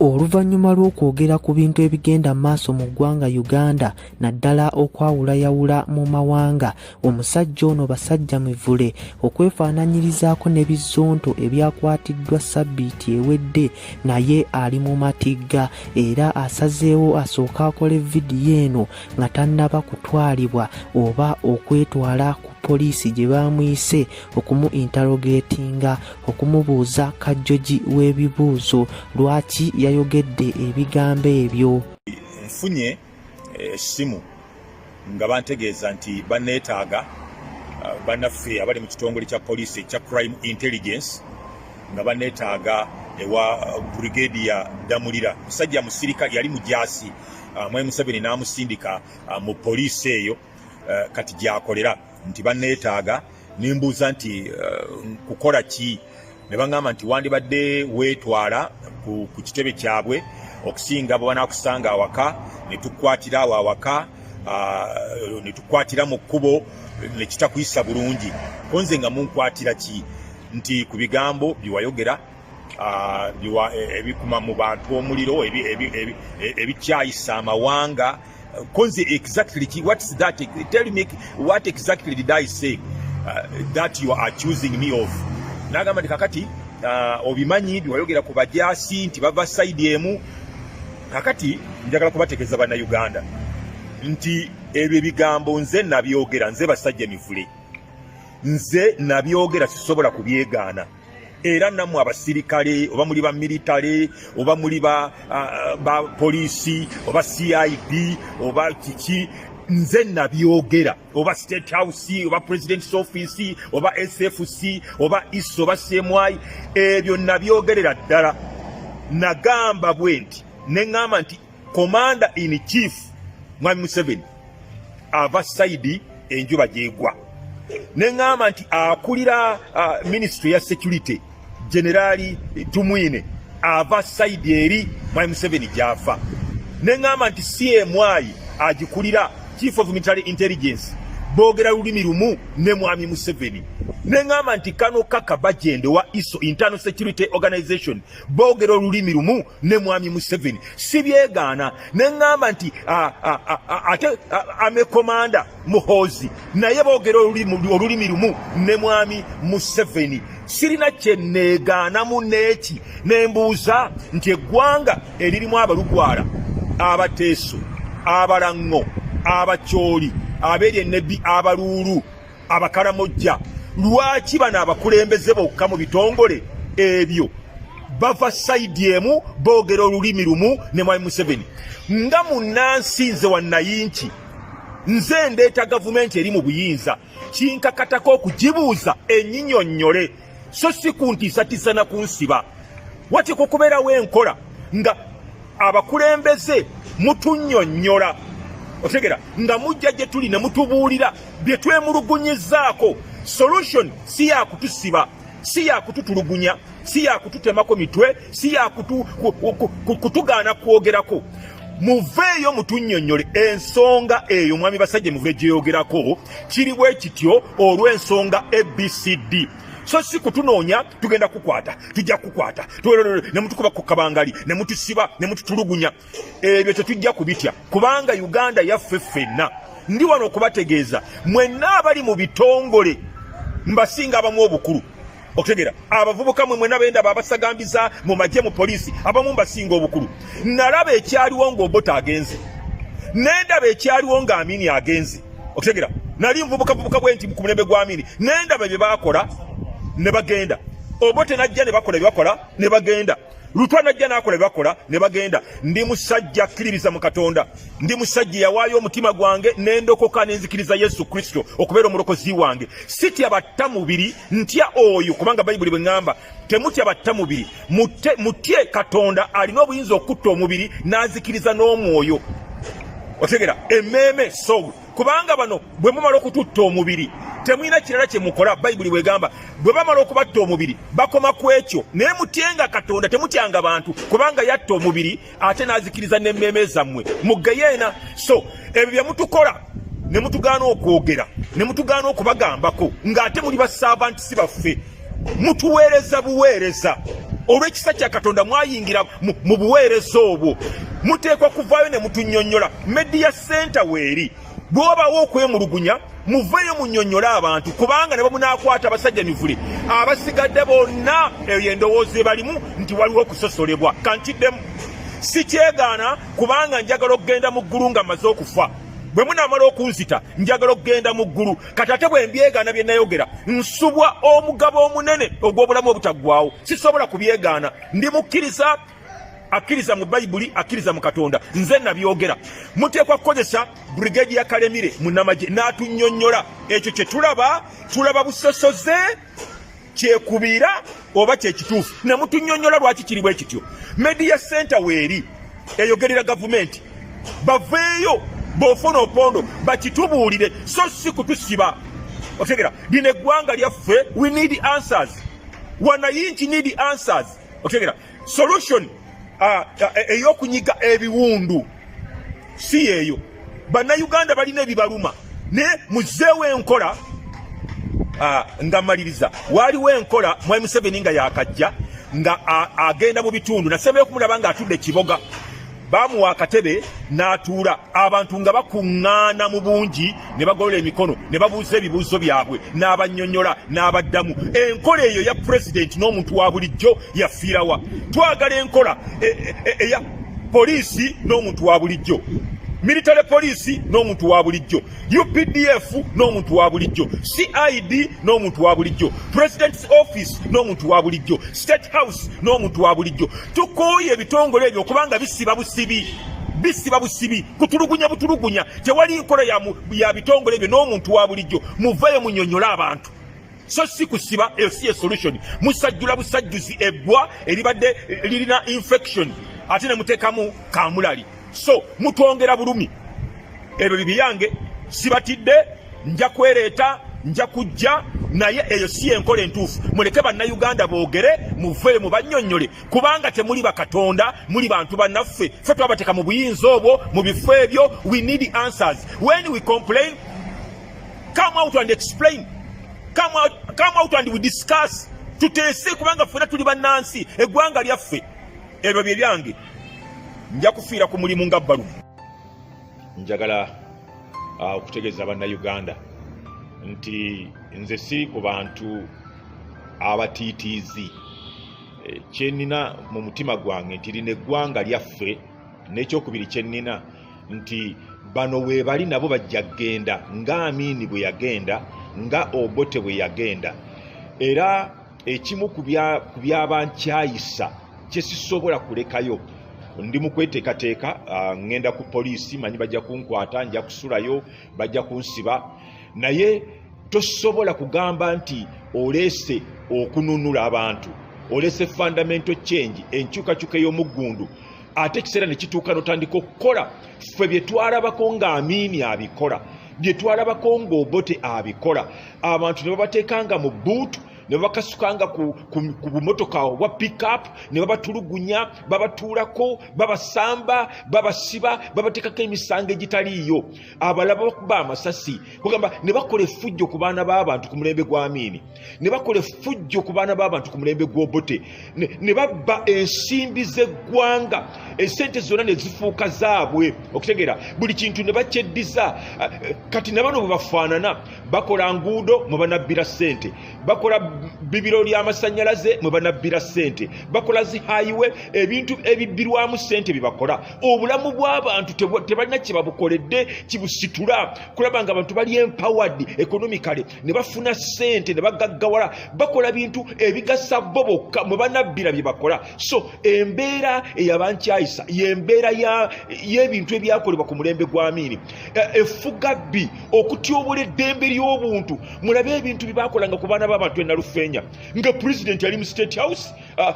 Oluvannyuma lw'okwogera ku bintu ebigenda mu maaso mu ggwanga Uganda naddala okwawulayawula mu mawanga, omusajja ono basajja mivule okwefaananyirizaako ne bizonto ebyakwatiddwa ssabbiiti ewedde naye ali mu matigga era asazeewo asooke akole vidiyo eno nga tannaba kutwalibwa oba okwetwala ku poliisi gye baamuyise okumu interogetinga okumubuuza kajjoji w'ebibuuzo lwaki yayogedde ebigambo ebyo nfunye eh, essimu nga bantegeeza nti banneetaaga eh, bannaffe abali mu kitongole kya poliisi ekya crime intelligence nga banneetaaga ewa eh, brigade ya damulira musajja musirikale yali mujaasi ah, mwai museveni n'amusindika ah, mu poliisi eyo kati gyakolera nti banneetaaga ne mbuuza nti eh, kukola ki ne baŋŋamba nti wandibadde weetwala ku kitebe kyabwe okusinga bwe banaakusanga awaka ne tukwatira awo awaka ah, ne tukwatira mu kkubo ne kitakuyisa bulungi ko nze nga munkwatira ki nti ku bigambo bye wayogera ah, e, ebikuma mu bantu omuliro ebikyayisa amawanga Konzi exactly ki, what is that? Tell me what exactly did I say uh, that you are accusing me of? Nagamba kakati uh, obimanyi biwayogera ku bajasi nti bava side emu kakati njagala kubategeza bana Uganda nti ebyo ebigambo nze nabyogera nze basajja mivule nze nabyogera sisobola kubyegaana era nammwe abasirikale oba muli ba militale oba muli ba, uh, ba poliisi oba cid oba kiki nze nabyogera oba state house oba president's office oba sfc oba is oba cmy ebyo nabyogerera ddala nagamba bwe nti neŋŋamba nti Commander in chief Mwami Museveni ava side enjuba gyegwa ne ngamba nti akulira uh, ministry ya security generali Tumwine ava side eri Mwami Museveni gyafa ne ngamba nti CMI agikulira chief of military intelligence boogera lulimi lumu ne mwami museveni neŋŋamba nti kano kaka bajende wa iso internal security organization boogera olulimi lumu ne mwami museveni sibyegaana ne ŋŋamba nti ate amekomanda muhoozi naye boogera olulimi lumu ne mwami museveni sirina kyenneegaanamu n'eki ne mbuuza nti eggwanga eririmu abalugwala abateeso abalaŋŋo abacooli abeerye nebi abaluulu abakaramojja lwaki bano abakulembeze bokka mu bitongole ebyo bava saidi emu boogera olulimi lumu ne mwami museveni nga munnansi nze wannayinki nze ndeeta gavumenti eri mu buyinza kinkakatako okugibuuza enyinyonnyole so si kuntiisatiisa na kunsiba wati ku kubeerawo enkola nga abakulembeze mutunyonnyola otegera nga mujja gye tuli ne mutubuulira bye twemulugunyizaako solution si yakutusiba si yakututulugunya si yakututemako mitwe si yakutugaana kwogerako muveeyo mutunyonyole ensonga eyo mwami basajja muve gyeyogerako kiri bwe kityo olw'ensonga abcd so si kutunoonya tugenda kukwata tujja kukwata ne mutukuba ku kabangali ne mutusiba ne mututulugunya ebyo tetujja kubitya kubanga uganda yaffe ffenna ndi wano okubategeeza mwenna abali mu bitongole mbasinga abamu obukulu okutegera abavubuka mwe mwena benda babasagambiza mu magye mu poliisi abamu mbasinga obukulu nalaba ekyaliwo ng'obota agenze nendaba ekyaliwo nga amini agenze okutegera nali nvubuka vubuka bwe nti ku mulembe gwa amini nendaba bye bakola ne bagenda obote najja ne bakola bye bakola ne bagenda lutwa najja nakola bakola ne bagenda ndi musajja akkiririza mu katonda ndi musajja yawaayo omutima gwange nendokoka nenzikiriza yesu kristo okubeera omulokozi wange sitya batta mubiri ntya oyo kubanga bayibuli bwe ŋŋamba temutya batta mubiri mutye katonda alina obuyinza okutta omubiri n'azikiriza n'omwoyo otegera emeeme soul kubanga bano bwe mumala okututta omubiri temulina kirala kye mukola bayibuli bwegamba bwe bamala okubatta omubiri bakoma ku ekyo naye mutyenga katonda temutyanga bantu kubanga yatta omubiri ate n'azikiriza n'emmeeme zammwe muggeyeena so ebyo bye mutukola ne mutugaana okwogera ne mutugaana okubagambako ng'ate muli bassaavantisi baffe mutuweereza buweereza olw'ekisa kya katonda mwayingira mu buweereza obwo muteekwa kuvaayo ne mutunyonyola media center weeri bwobawo okwemulugunya muveeyo munyonyole abantu kubanga ne bamunakwata abasajja mivule abasigadde bonna eyo endowooza ebalimu nti waliwo okusosolebwa kankiddemu sikyegaana kubanga njagala okugenda mu ggulu nga maze okufa bwe munamala okunzita njagala okugenda mu ggulu kati ate bwe mbyegaana bye nayogera nsubwa omugabo omunene ogw'obulamu obutaggwawo sisobola kubyegaana ndi mukkiriza akkiriza mu bayibuli akkiriza mu katonda nze nabyogera muteekwa kukozesa brigade ya kalemire mu namagye n'atunyonnyola ekyo kye tulaba tulaba busosoze kyekubiira oba kyekituufu nemutunyonyola lwaki kiri bwe kityo media center weeri eyogerera gavumenti baveeyo bofuna opondo bakitubuulire so si kutusiba otegera lino eggwanga lyaffe we need answers wanayinki need answers otegera solution ah, ah, e, eyokunyiga ebiwundu si yeeyo bannayuganda balina ebibaluma naye muzeewo enkola ah, nga maliriza waaliwo enkola mwai museveni nga yakajja nga agenda mu bitundu nasembeyo okumulaba nga atudde kiboga baamuwa akatebe n'atuula abantu nga bakuŋŋaana mu bungi ne bagolola emikono ne babuuza ebibuuzo byabwe n'abannyonnyola n'abaddamu enkola eyo ya pulezidenti n'omuntu wa bulijjo yafiirawa twagala enkola e, e, e, eya poliisi n'omuntu wa bulijjo militale poliisi n'omuntu wa bulijjo updf n'omuntu wa bulijjo cid n'omuntu wa bulijjo president's office n'omuntu wa bulijjo state house n'omuntu wa bulijjo tukooye ebitongole ebyo okubanga bisiba busibi bisiba busibi kutulugunya butulugunya tewali nkola ya bitongole ebyo n'omuntu wa bulijjo muvayo munyonyole abantu so si kusiba eyo si esolution musajjula busajjuzi eggwa eribadde lirina infection ate ne muteekamu kamulali so mutwongera bulumi ebyo bibiyange sibatidde nja kwereeta nja kujja naye eyo si yenkola entuufu muleke bannayuganda boogere muveeyo mubannyonnyole kubanga temuli bakatonda muli bantu bannaffe fe twabateeka mu buyinza obwo mu bifo ebyo we need answers when we complain come out and explain come out, come out and we discuss tuteese kubanga ffena tuli bannansi eggwanga lyaffe ebyo bye byange nja kufiira ku mulimu nga bbalumu njagala uh, okutegeeza bannayuganda nti nze siri ku bantu abatiitiizi eh, kyenina mu mutima gwange nti lino eggwanga lyaffe n'ekyokubiri kyenina nti bano weebali nabo bajja kugenda nga amiini bwe yagenda nga obote bwe yagenda era ekimu ku byaba nkyayisa kyesisobola kulekayo ndi mu kweteekateeka ah, ŋŋenda ku poliisi manyi bajja kunkwata nja kusulayo bajja kunsiba naye tosobola kugamba nti oleese okununula abantu olese fundamental change enkyukakyuka ey'omuggundu ate ekiseera ne kituuka notandika okukola ffe bye twalabako nga amiini abikola bye twalabako ng'obote abikola abantu ne babateekanga mu buutu ne babakasukanga ku, ku, ku bumotoka obwa pickup ne babatulugunya babatuulako babasamba babasiba babateekako emisango egitaliiyo abalaba bakuba amasasi kugamba ne bakola effujjo ku baana b'abantu ku mulembe gw'amiini ne bakola effujjo ku baana b'abantu ku mulembe gw'obote ne babba ensimbi z'eggwanga esente zonna ne zifuuka zaabwe okutegeera buli kintu ne bakyeddiza ah, kati na bano bwe bafaanana bakola nguudo mwe banabbira ssente bakola bibiro ly'amasannyalaze mwe banabbira ssente bakola zi hayiwe ebintu ebibbirwamu ssente bye bakola obulamu bw'abantu tebalina kye babukoledde kibusitula kulaba nga abantu bali empoward ekonomikale ne bafuna ssente ne bagaggawala bakola bintu ebigasa bo bokka mwe banabbira bye bakola so embeera eyabankyayisa yembeera y'ebintu ebyakolebwa ku mulembe gwa miini e, efuga bbi okutyobola eddembe ly'obuntu mulabe ebintu bye bakolanga ku baana b'abantu enalufeenya nga pulezidenti ali mu state house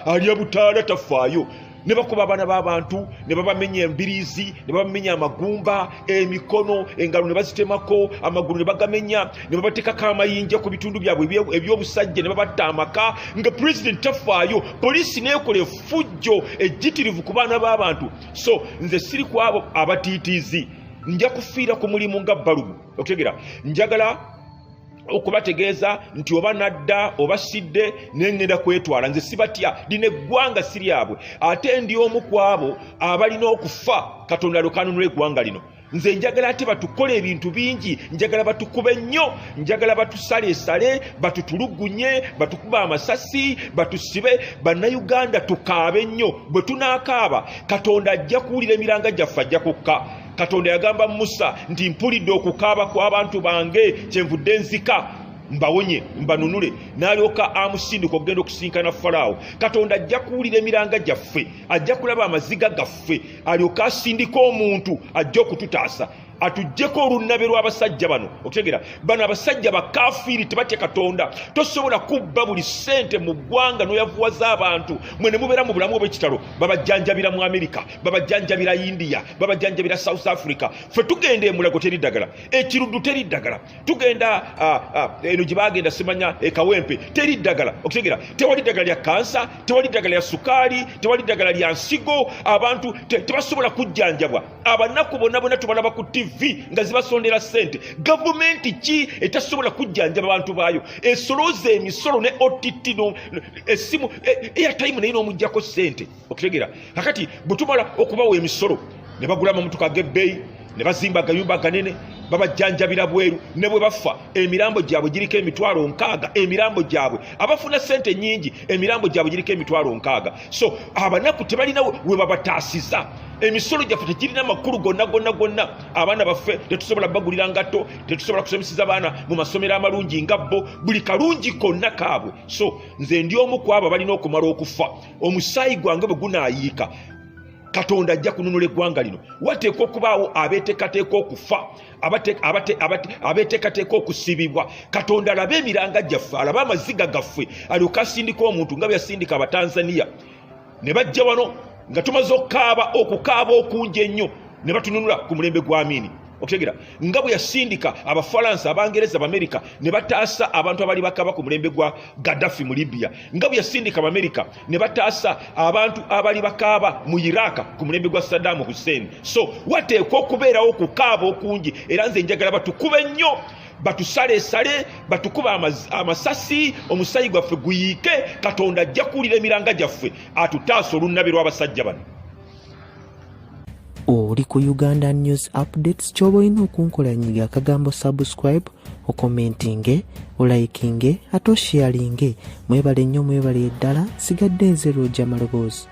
alya butaala tafaayo ne bakuba abaana b'abantu ne babamenya embiriizi ne babamenya amagumba emikono engalo ne bazitemako amagulu ne bagamenya ne babateekako amayinja ku bitundu byabwe eby'obusajja ne babatta amaka nga pulezidenti tafaayo poliisi neekola efujjo ejjitirivu ku baana b'abantu so nze siri ku abo abatiitiizi nja kufiira ku mulimu nga balubu okutegera njagala okubategeeza nti oba nadda oba sidde nengenda kwetwala nze sibatya lino eggwanga si lyabwe ate ndi omu ku abo abalina okufa katonda lwekanunula eggwanga lino nze njagala ate batukola ebintu bingi njagala batukube nnyo njagala batusaleesale batutulugunye batukuba amasasi batusibe bannayuganda tukaabe nnyo bwe tunaakaaba katonda ajja kuwulira emiranga gyaffe ajja kukka katonda yagamba musa nti mpulidde okukaaba kw'abantu bange kyenvudde nzika mbawonye mbanunule n'alyoka amusindika okugenda okusinkana falaawo katonda ajja kuwulira emiranga gyaffe ajja kulaba amaziga gaffe alyoka asindika omuntu ajja okututaasa atujjeko olunnabe lw'abasajja bano okutegera bano abasajja bakafiiri tebatya katonda tosobola kubba buli ssente mu ggwanga n'oyavuwaza abantu mwe ne mubeera mu bulamu obw'ekitalo babajjanjabira mu amerika babajanjabira india babajanjabira south africa fe tugenda emulago teri ddagala ekiruddu teri ddagala tugenda ah, ah, eno gye bagenda simanya ekawempe teri ddagala okutegera tewali ddagala lya kansa tewali ddagala lya sukaali tewali ddagala lya nsigo abantu tebasobola kujjanjabwa abanaku bonna bonna tubalaba ku tv nga zibasondera ssente gavumenti ki etasobola kujjanjaba abantu baayo esolooza emisolo ne ott esimu eyatayimu e, naye n'omugjako ssente okitegera kakati bwetumala okubawa emisolo ne bagula amamotoka gebbeeyi ne bazimba agayumba ganene babajjanjabira bweru ne bwe bafa emirambo gyabwe giriko emitwalo nkaaga emirambo gyabwe abafuna sente nyingi emirambo gyabwe giriko emitwalo nkaaga so abanaku tebalina we babataasiza emisolo gyaffe tegirina makulu gonna gonna gonna abaana baffe tetusobola bagulira ngatto tetusobola kusomeseza baana mu masomero amalungi nga bo buli kalungi konna kaabwe so nze ndi omu kwabo balina okumala okufa omusaayi gwange bwe gunaayiika katonda ajja kununula eggwanga lino wateekwa okubaawo abeetekateeka okufa abeetekateeka okusibibwa katonda alabe emiranga gyaffe alabe amaziga gaffe alyoke asindika omuntu nga byeyasindika abatanzaniya ne bajja wano nga tumaze okukaaba okukaaba okungi ennyo ne batununula ku mulembe gw'amiini okutegera nga bwe yasindika abafalansa abangereza abamerika ne bataasa abantu abali bakaba ku mulembe gwa gaddafi mu libya nga bwe yasindika abamerika ne bataasa abantu abali bakaaba mu iraka ku mulembe gwa saddamu hussein so wateekwa okubeerawo okukaaba okungi era nze njagala batukube nnyo batusalesale batukuba amasasi omusayi gwaffe guyiike katonda ajja kuwulira emiranga gyaffe atutaasa olunnabi lw'abasajja bano oli ku uganda news updates kyoba olina okunkola nyiga akagambo subscribe okomentinge olayikinge ate oshiyalinge mwebale nnyo mwebale eddala sigadde nze lwoja maloboozi